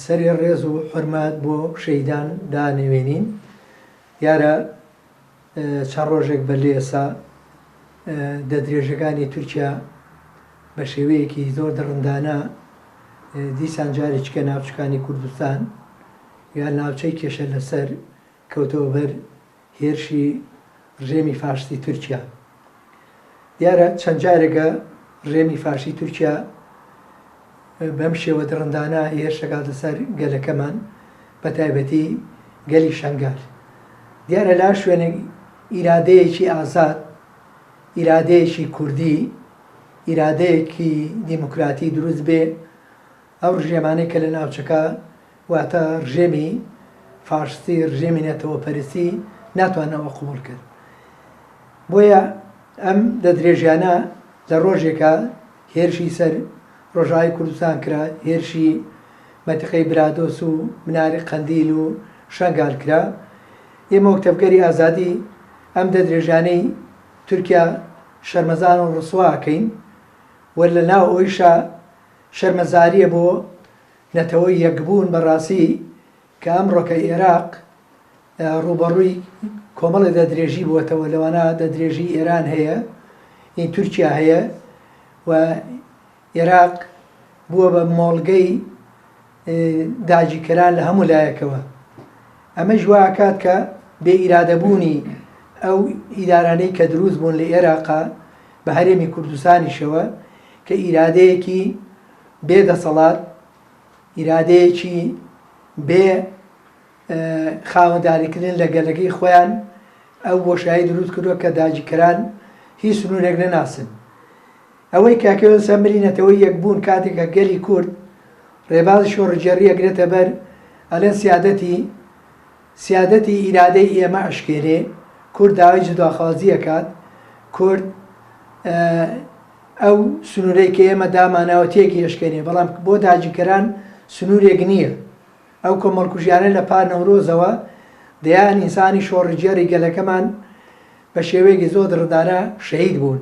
سەرێ ڕێز و حورمەت بۆ شەهیدان دانێوێنین دیارە چەند ڕۆژێک بە لێسا دە درێژەکانی تورکیا بە شێوەیەکی زۆر دڕندانە دیسان جارێککە ناوچەکانی کوردستان یا ناوچەی کێشە لەسەر کەوتەوە بەر هێرشی ڕژێمی فاشستی تورکیا. دیارە چەند جارێکە ڕژێمی فاشی تورکیا بەم شێوە دڕندانە هێرش دەکاتە سەر گەلەکەمان بە تایبەتی گەلی شەنگال. دیارە لە هەر شوێنێک ئیرادەیەکی ئازاد، ئیرادەیەکی کوردی، ئیرادەیەکی دیموکراتی دروست بێ، ئەو ڕژێمانەی کە لە ناوچەکە واتە ڕژێمی فاشستی ڕژێمی نەتەوەپەرستی ناتوان ئەوە قبوڵ کرد بۆیە ئەم لە درێژیانە لە ڕۆژێکە هێرشی سەر ڕۆژاوی کوردستان کرا هێرشی مەتیقەی برادۆس و مناری قەندیل و شەنگال کرا ئێمە وەک تەڤگەری ئازادی ئەم دە درێژانەی تورکیا شەرمەزان و ڕسواکەین و لە ناو ئەویشە شەرمەزاریە بۆ نەتەوە یەکبوون بە ڕاستی کە ئەمڕۆ کە ئێراق ڕووبەڕووی کۆمەڵێ دەدرێژی بووەتەوە لەوانە دەدرێژی ئێران هەیە ئی تورکیا هەیە و ئێراق بووە بە مۆڵگەی داگیرکەران لە هەموو لایەکەوە ئەمەش وا ئەکات کە بێ ئیرادەبوونی ئەو ئیدارانەی کە دروست بوون لە ئێراقا بە هەرێمی کوردستانیشەوە کە ئیرادەیەکی بێ دەسەڵات، ئیرادەیەکی بێ خاوەنداریکردن لە گەلەکەی خۆیان ئەو بۆشایی دروست کردووە کە داگیرکەران هیچ سنوورێک نەناسن. ئەوەی کاک یۆنس ئەمری نەتەوەی یەکبوون کاتێک کە گەلی کورد ڕێبازی شۆڕگێڕی ئەگرێتە بەر ئەڵێن سیادەتی سیادەتی ئیرادەی ئێمە ئەشکێرێ، کورد داوای جوداخوازی ئەکات، کورد ئەو سنوورەی کە ئێمە داماناوە تێکی ئەشکێنێ، بەڵام بۆ داگیرکەران سنوورێک نییە. ئەو کۆمەڵکوژیانە لە پار نەورۆزەوە دەیان ئینسانی شۆڕجێڕی گەلەکەمان بە شێوەیەکی زۆر دڕندانە شەهید بوون.